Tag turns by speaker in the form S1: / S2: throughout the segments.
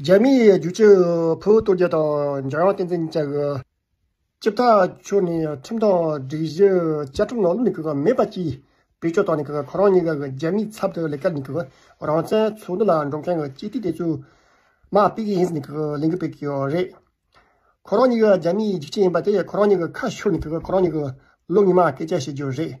S1: རྒྱ་མི་ཡི་རྒྱུག་ཁྱི་བོད་སྟོད་རྒྱུད་དང་འཇམ་དབྱངས་བསྟན་འཛིན་བཅས་ཀྱི་སྤྱི་བདག་ཕྱོགས་ནས་ཁྲིམས་དང་སྒྲིག་གཞི་བཅའ་ཁྲིམས་ནང་ལུགས་ནས་གུས་པ་མེད་པ་གཅིག་བེད་སྤྱོད་བཏང་ནས་ཁོ་རང་གཉིས་ཀ་གི་རྒྱ་མིའི་ཚབ་ཏུ་ལས་ཀ་ནས་རང་བཙན་ཚོགས་འདུ་ལ་འགྲོ་མཁན་གྱི་སྤྱི་འཐུས་དེ་ཚོས་མ་དཔེ་གི་ཡིན་ཟེར་ནས་གླེང་གི་བོད་ཀྱི་རེད། ཁོ་རང་གཉིས་ཀ་རྒྱ་མིའི་རྒྱུག་ཁྱི་ཡིན་པ་དེ་ཁོ་རང་གཉིས་ཀྱི་ཁ་ཤོར་ནས་ཁོ་རང་གཉིས་ཀྱི་ལོ་གཉིས་མ་སྐད་ཆ་བཤད་རྒྱུ་རེད།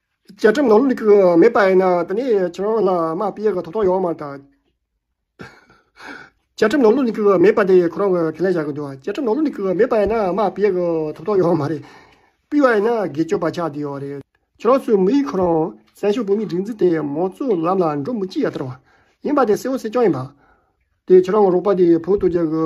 S2: བཅའ་ཁྲིམས་ནང་ལུགས་ཀྱི་མེད་པ་ཡིན་ན་དེ་ནི་ཁྱེད་རང་ལ་མ་དཔེ་ཡག་གི་ཐོབ་ཐང་ཡོད་མ་ཐག་བཅའ་ཁྲིམས་ནང་ལུགས་ཀྱི་
S1: མེད་པ་དེ་ཁོ་རང་གིས་ཁས་ལེན་བྱ་གི་འདུག་བཅའ་ཁྲིམས་ནང་ལུགས་ཀྱི་མེད་པ་ཡིན་ན་མ་དཔེ་ཡག་གི་ཐོབ་ཐང་ཡོད་མ་རེད། སྤུས་བ་ཡིན་ན་སྒེར་གཅོད་པ་ཆགས་བསྡད་ཡོད་རེད། ཁྱེད་རང་ཚོའི་མི་ཡིས་ཁོ་རང་སྲན་ཞོ་བོད་མིའི་སྒྲིག་འཛུགས་དེ་མང་གཙོའི་ལམ་ལ་འགྲོ་མི་ཅི་ཡ་དར་བ་ཡིན་པ་དེ་གསལ་བོ་གསལ་རྐྱང་ཡིན་པ། དེ་ཁྱེད་རང་གི་རོགས་པ་དེ་བོད་དོ་རྒྱལ་གི།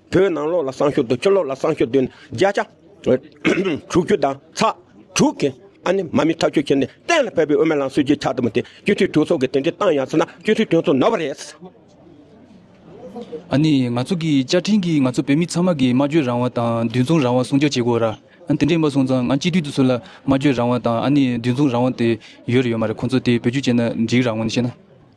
S2: བོད་ནང་ལོགས་ལ་སང་ཞོགས་དུ་ཕྱི་ལོགས་ལ་སང་ཞོགས་དུ་ནི་བརྒྱ་ཆ། དྲུག་ཅུ་དང་ཚ། དྲུག་གི། ཨ་ནི་མ་མི་ཐག་གཅོད་བྱས་ནས་གཏན་ལ་ཕེབས་པའི་དབུ་མའི་ལམ་སྲིད་ཇུས་ཆགས་ཐུབ་པ་དེ་སྤྱི་འཐུས་གྲོས་ཚོགས་ཀྱི་དེ་འདྲའི་གཏང་ཡང་སྲིད་ན་སྤྱི་འཐུས་གྲོས་ཚོགས་ནོར་བ་རེད། ཨ་
S3: ནི་ང་ཚོ་གི་བཅའ་ཁྲིམས་ཀྱིས་ང་ཚོ་བོད་མི་ཚང་མ་གི་སྨྲ་བརྗོད་རང་དབང་དང་འདུལ་མཚུངས་རང་དབང་སྲུང་སྐྱོབ་བྱེད་དགོས། ར་ཨ་དེ་འདྲས་མ་སྲུང་ཙང་ང་སྤྱི་འཐུས་དུ་སུ་ལ་སྨྲ་བརྗོད་རང་དབང་དང་ཨ་ནི་འདུལ་མཚུངས་རང་དབང་དེ་ཡོད་རེད་ཡོད་མ་རེད་ཁོང་ཚོ་དེ་བེད་སྤྱོད་བྱས་ན་འགྲིག་རང་ངོ་ནས་བཤད་ན།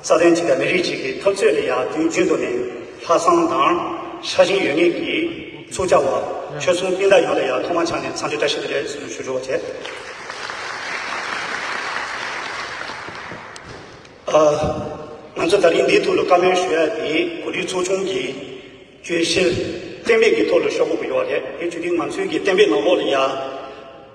S4: རྩ་དོན་གཅིག་དང་མི་རིགས་གཅིག་གི་འཐབ་རྩོད་ལ་ཡར་རྒྱུན་རྒྱུན་དུ་ནས་ལྷག་བསམ་དང། ཤ་ཞེན་ཡོད་ངེས་ཀྱིས་ཚུགས་བཅར་བ། ཆོལ་གསུམ་སྤུན་ཟླ་ཡོངས་ལ་ཡར་ཐོག་མ་ཆགས་ནས་འཚམས་འདྲི་བཀྲ་ཤིས་བདེ་ལེགས་ཞུ་ཞུ་རོགས་བྱེད། ང་ཚོ་ད་རིང་འདིའི་ཐོག་ལ་བཀའ་མོལ་ཞུ་ཡ་དེ་གོ་སྒྲིག་ཚོགས་ཆུང་གི་གྱོད་གཞིར་གཏན་འབེབས་ཀྱི་ཐོག་ལ་ཤོག་བུ་འབུལ་བ་རེད། དེ་བརྒྱུད་དེ་ང་ཚོའི་གི་གཏན་འབེབས་ནང་ལོགས་ལ་ཡར།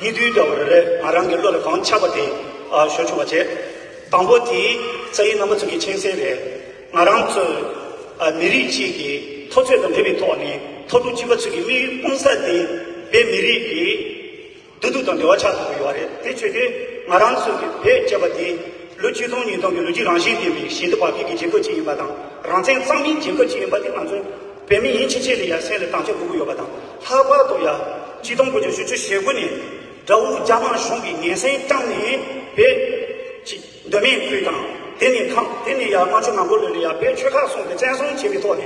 S4: ཡིད་དུ་འོང་བ་རེ་རེ་ང་རང་གི་བློ་ལ་གང་འཆར་བ་དེ་ཞོར་འབྱུང་བར་བྱེད། དང་པོ་དེའི་རྩ་ཡི་རྣམ་པ་ཚུལ་གྱི་མཁྱེན་གསལ་རེད། ང་རང་ཚོ་མི་རིགས་གཅིག་གི་མཐོ་ཚད་དང་འབྲེལ་བའི་ཐོག་ནས་མཐོ་རླུང་གཅིག་པ་ཚུལ་གྱི་དམིགས་ཡུལ་སྤུང་ས་དེ་བོད་མི་རིགས་ཀྱི་བདེ་སྡུག་དང་འབྲེལ་བ་ཆགས་ཐུབ་ཀྱི་ཡོད་རེད་དེ་ཆོས་དེ་ང་རང་ཚོ་གི་བོད་ཅེས་པ་དེ་ལོ་བཅུ་སྟོང་ཉིས་སྟོང་གི་ལོ་རྒྱུས་རང་བཞིན་ལྡན་པའི་ཞིང་དུ་བབ་ཡུལ་གྱི་རྒྱལ་ཁབ་ཅིག་ཡིན་པ་དང་རང་བཙན་གཙང་མིན་རྒྱལ་ཁབ་ཅིག་ཡིན་པ་དེ་ང་ཚོ་བོད་མི་ཡིན་ཕྱིན་ཆད་དུ་ཡང་སེམས་ལ་དང་ཆ་དགོས་ཀྱི་ཡོད་པ་དང་ལྷག་པར་དུ་ཡང་སྤྱི་སྡོམ་དགོས་ཆ་ཞུ་ཆོད་ཞེ་དགུ་ནས་དགྲ་བོ་རྒྱ་དམར་གཞུང་གིས་ངན་སེམས་བཅངས་ནས་བོད་ཀྱི་གདོད་མའི་ཁུལ་དང་དེ་ནས་ཁམས་དེ་ནས་ཡང་རྨ་ཆུ་ནག་པོ་ལོན་ནས་ཡང་བོད་ཆོལ་ཁ་གསུམ་དུ་བཙན་བཟུང་བྱས་པའི་ཐོག་ནས་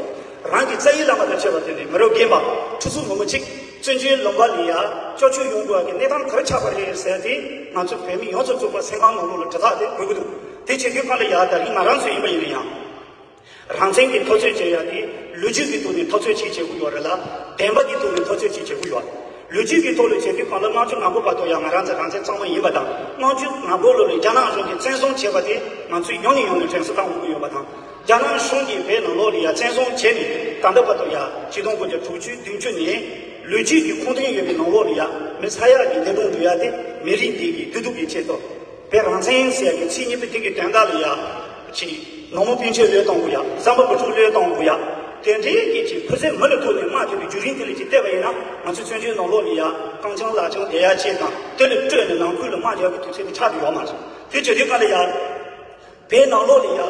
S4: རང་གི་རྩ་ཡི་བླ་མ་དང་བཅས་པ་དེ་ནི་མི་རོ་རྒན་པ་ཁྲི་ཚོ་ལོ་མ་གཅིག་བཙོན་འཇུའི་ལུང་པ་ལས་ཡང་ཅོ་ཅོ་ཡོང་དགོས་ཀྱི་གནས་སྟངས་ག་རེ་ཆགས་པ་རེད་ཟེར་ཏེ་ང་ཚོ་བོད་མི་ཡོངས་རྫོགས་བཙུགས་པ་སེམས་ཁམས་ནང་ལུགས་ལ་དྲི་ཐག་དེ་དགོས་ཀྱི་འདུག་དེ་བྱེད་མཁན་ཁོ་ལ་ཡང་དར་གྱི་ང་རང་ཚོ་ཡིན་པ་ཡིན་ན་ཡང། རང་བཙན་གྱི་ཐོ་རྩོད་བྱེད་ཡག་གི། ལོ་རྒྱུས་ཀྱི་ཐོག་ནས་ཐོ་རྩོད་བྱེད་བྱེད་དགོས་ཡོད་རེད་ལ། བདེན་པ་གྱི་ཐོག་ནས་ཐོ་རྩོད་བྱེད་བྱེད་དགོས་ཡོད། ལོ་རྒྱུས་ཀྱི་ཐོག་ལ་བྱེད་དུས་གང་ལྟར་དམངས་གཙོའི་ནག་པོ་བར་དོ་ཡང་ང་རང་ཚ་རང་བཙན་གཙང་མ་ཡིན་པ་དང་དམངས་གཙོའི་ནག་པོ་ལོ་ལས་རྒྱ་ནག་གཞུང་གིས་བཙན་བཟུང་བྱས་པ་དེ་ང་ཚོས་ཡོང་ནས་ཡོང་ནས་དྲན་གསོ་བཏང་དགོས་ཀྱི་ཡོད་པ་དང། རྒྱ་ནག་གཞུང་གིས་བོད་ནང་ལོ་ལས་ཡ་བཙན་བཟུང་བྱས་ནས་ད་ལྟ་བར་དོ་ཡ་སྤྱི་སྟོང་དགུ་བརྒྱ་དྲུག་ཅུ་བདུན་ཅུ་ནས་ལོ་རྒྱུས་ཀྱི་ཁུངས་བདུན་ཡོད་པའི་ནང་ལོ་ལས་ཡ་མི་ས་ཡ་གི་འདས་གྲོངས་འགྲོ་ཡ་དེ་མི་རིགས་འདི་གི་བདེ་སྡུག་གི་ཆེད་དུ་བོད་རང་བཙན་ཟེར་ཡ་གི་ཚིག་གཉིས་པོ་དེ་གི་དོན་དག་ལས་ཡ། གཅིག། ནང་མོ་སྤུན་མཆེད་ལོས་གཏོང་དགོས་ཡ། བསམ་པ་པོ་ཕྲུག་ལོས་གཏོང་དགོས་ཡ། དེ་འདྲའི་སྐད་ཅིག་བུ་ཚའི་མི་ལ་ཐུག་ནས་སྨྲ་ཐུབ་པའི་རྒྱུ་རིན་དེ་ལས་ཀྱིས་བལྟས་པ་ཡིན་ན་ང་ཚོའི་བཙོན་བྱོལ་ནང་ལོག་མི་ཡ། རྐང་བྱང་ལག་བྱང་བསྡད་ཡ་བཅས་དང་དེ་ལས་སྤྲོས་ནས་ནང་ཁུལ་ལ་སྨྲ་རྒྱག་པའི་དུས་ཚོད་དེ་ཆགས་ཀྱི་ཡོད་མ་རེད། དེ་བྱེད་དུས་ག་ལ་ཡ། བལ་ནང་ལོག་ལེ་ཡ།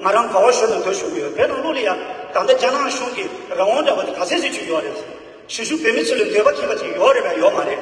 S4: ང་རང་ག་བ་ཤོར་ནས་འདིར་བཞུགས་ཀྱི་ཡོད་བལ་ནང་ལོག་ལེ་ཡ། ད་ལྟ་རྒྱ་ནག་གཞུང་གིས་རང་དབང་འདྲ་པ་དེ་ག་ཚད་ཟིག་བྱོས་ཀྱི་ཡོད་རེད། གཞིས་བཞུགས་བོད་མི་ཚོ་ལ་འདོད་པ་ཁེངས་པ་ཅིག་ཡོད་རེད་པས་ཡོད་མ་རེད།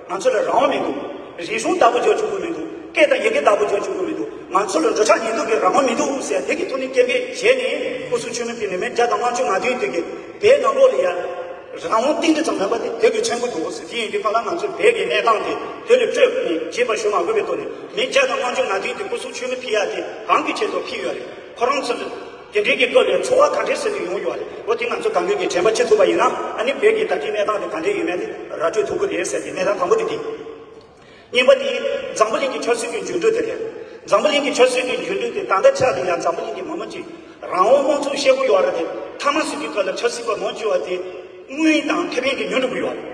S4: ང་ཚོ་ལ་རང་དབང་མི་འདུག་རིག་གཞུང་བདག་པོ་འཇོག་བཅུག་གི་མི་འདུག་སྐད་དང་ཡི་གེ་བདག་པོ་འཇོག་བཅུག་གི་མི་འདུག་ང་ཚོ་ལ་འགྲོ་འཆག་ཉལ་འདུག་གི་རང་དབང་མི་འདུག་ཟེར་དེ་གི་ཐུགས་ནི་སྐྱེན་པའི་གཞས་ནི་སྐུ་གཟུགས་ཆོས་མིན་པའི་མི་མེད་བརྒྱ་དང་ལྔ་བཅུ་ང་བདུན་བདུན་གི་བའི་ནང་ལོགས་ལ་ཡར། རང་དབང་གཏིང་འདྲི་ཙམ་མེད་པ་དེ་དེ་གི་ཆེན་པོ་འདུག་ཟེར་དེ་ཡིན་དུས་ཁ་ལ་ང་ཚོའི་བལ་གི་གནས་སྟངས་དེ་དེ་ལས་སྤྲོས་ནས་རྗེས་པར་ཞུ་མ་དགོས་པའི་ཐོག་ནས་མི་བརྒྱ་དང་ལྔ་བཅུ་ང་བདུན་དེ་སྐུ་གཟུགས་ཆོས་མིན་ཕི་ཡ་དེ་གང་གི་ཆེད་དུ་ཕི་ཡོད་རེད་ཁོ་རང་ཚོ། དེ་འབྲེལ་གྱི་སྐབས་ལས་འཚོ་བ་ག་འདྲའི་ཟེར་དུ་ཡོང་རྒྱུ་བ་རེད་འོ་དེ་ང་ཚོ་དགའ་འབོད་ཀྱི་དྲན་པ་བྱེད་ཐུབ་པ་ཡིན་ན་ཨ་ནི་བོད་ཀྱི་ད་ལྟའི་གནས་སྟངས་དེ་ག་འདྲས་ཡོད་མེད་དེ་ར་སྤྲོད་ཐུབ་ཀྱི་རེད་ཟེར་ཏེ་གནས་སྟངས་དང་པོ་དེ་འདི་གཉིས་པ་དེ་འཛམ་བུ་གླིང་གི་ཆབ་སྲིད་ཀྱི་འགྱུར་འགྲོས་དེ་རེད་འཛམ་བུ་གླིང་གི་ཆབ་སྲིད་ཀྱི་འགྱུར་འགྲོས་དེ་ད་ལྟ་ཆགས་འདུག་ཡང་འཛམ་བུ་གླིང་གི་མི་མང་གི་རང་དབང་དམངས་གཙོའི་ཤེལ་སྒོ་གཡོག་ར་དེ་མཐའ་མ་ཟིན་པའི་སྐབས་ལ་ཆབ་སྲིད་པ་མང་ཆེ་བ་དེ་དངུལ་དང་ཁེ་ཕན་གྱིས་ཉོ་འགྲོ་གི་ཡོད་རེད།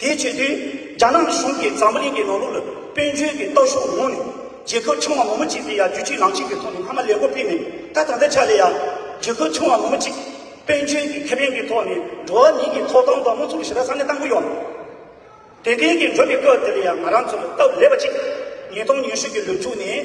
S4: དེའི་ཆེད་དུ་རྒྱ་ནག་གཞུང་གིས་འཛམ་བུ་གླིང་གི་ནོར་ལུག་ལ་དཔལ་འབྱོར་གྱི་སྟོབས་ཤུགས་མངོན་ནས་རྒྱལ་ཁབ་ཆུང་བ་མོ་མོ་གཅིག་དེ་ཡང་རྒྱུ་གཅིག་ལམ་གཅིག་གི་ཐོག་ནས་མཐའ་མ་ལས་སྒོ་སྤེལ་ནས་ད་ད་ལྟའི་ཆ་ལས་ཡང། རྒྱལ་ཁབ་ཆུང་བ་མོ་མོ་གཅིག་དཔལ་འབྱོར་གྱི་ཁེ་ཕན་གྱི་ཐོག་ནས་འགྲོ་བ་མིའི་གི་ཐོག་ཐང་དང་དམངས་འཚོ་གི་ཞི་ར་ས་གནས་བཏང་གི་ཡོད། དེ་འདྲའི་གི་འགྲོ་བའི་སྐབས་འདི་ལ་ཡང་ང་རང་ཚོ་ལ་སྟབས་ལེགས་པ་གཅིག་ཉིས་སྟོང་ཉི་ཤུ་གི་ལོ་མཇུག་ནས།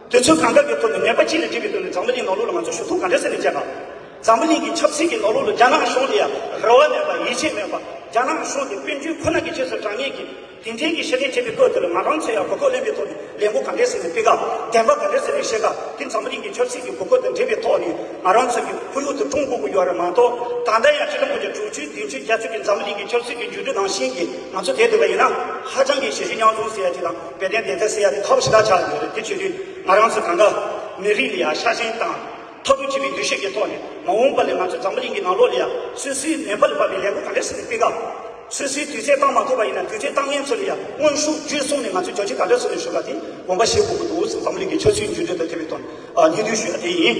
S4: དུས་ཚོད་གང་འདྲ་གི་ཐོག་ནས་ནད་པ་གཅིག་ལས་གཅིག་གི་སྟེང་ནས་འཛམ་བུ་གླིང་ནང་ལུགས་ལ་ང་ཚོས་ཞུ་གཏུག་ག་འདྲ་ཟེར་ནས་བྱས་ན། འཛམ་བུ་གླིང་གི་ཆབ་སྲིད་ཀྱི་ནོར་ལུག་ལ་རྒྱ་ནག་གཞུང་འདི་ཡ་རེ་བ་མེད་པ་ཡིད་ཆེས་མེད་པ་རྒྱ་ནག་གཞུང་འདི་དཔོན་རྒྱུད་ཁོ་ན་གི་ཆེད་ཟེར་གྲངས་ངེས་ཀྱིས་དེ་འཕྲལ་གྱི་ཤེས་ལྡན་མཁས་པའི་སྐོར་དེ་ལ་ང་རང་ཚོས་ཡང་གོ་སྐོར་ལེན་པའི་ཐོག་ནས་ལས་འགོ་ག་འདྲས་ཟེར་ནས་སྤེལ་ཀ་བདེན་པ་ག་འདྲས་ཟེར་ནས་བཤད་ཀ་དེ་འཛམ་བུ་གླིང་གི་ཆབ་སྲིད་ཀྱི་གོ་སྐོར་དང་འབྲེལ་བའི་ཐོག་ནས་ང་རང་ཚོས་ཀྱི་ཁོར་ཡུག་དུ་ཀྲུང་གོ་གི་ཡོད་རེད་མ་གཏོགས་ད་ལྟ་ཡང་སྤྱི་ལོ་སྔོན་གྱི་དྲུག་ཅུའི་བདུན་ཅུའི་རྒྱ་ཆོད་ཀྱི་འཛམ་བུ་གླིང་གི་ཆབ་སྲིད་ཀྱི་འགྱུར་འགྲོས་ནང་བཞིན་གྱི་ང་ཚོ་བསྡད་འདུག་པ་ཡིན་ན་ཧ་ཅང་གི་ཞེ་ཞེ་སྙང་བཟུང་ཟེར་ཡ་དེ་དང། དཔལ་ལྡན་བདེན་མཐའ་སེལ་ཡ་དེ་ཁ་བོ་ཞེ་དྲག་ཆགས་ཡོད་རེད་དེ་བྱེད་དུས་ང་རང་ཚོ་གངྒཱ། མི་རིགས་ལ་ཡང་ཤ་ཞེན་དང། ཐོབ་རུ་བྱེད་པའི་འདུ་ཤེས་ཀྱི་ཐོག་ནས་མ་འོངས་པ་ལས་ང་ཚོ་འཛམ་བུ་གླིང་གི་ནང་ལོགས་ལ་ཡང་སུད་སིའི་ནན་པ་ལ་བབས་པའི་ལས་འགུལ་ག་འདྲ་ཞིག་ལ་སྤེལ་སྐབས། སུད་སིའི་དུས་ཚད་བཏང་མ་ཐུབ་པ་ཡིན་ན་དུས་ཚད་བཏང་མཁན་ཚོ་ལ་ཡང་དངོས་ཤུགས་བརྒྱུད་གསུམ་ནས་ང་ཚོས་རྒྱལ་སྤྱི་ག་འདྲ་བཟོ་ནས་ཞུ་དགའ་དེ་དགོངས་པ་བཞེས་དགོས་ཀྱི་འདུག་ཟེར་འཛམ་བུ་གླིང་གི་ཆོས་སྲིད་འགྱུར་འགྲོས་དང་འཐད་པའི་དོན་སྙིང་བསྡུས་ཞུ་ཡ་དེ་ཡིན།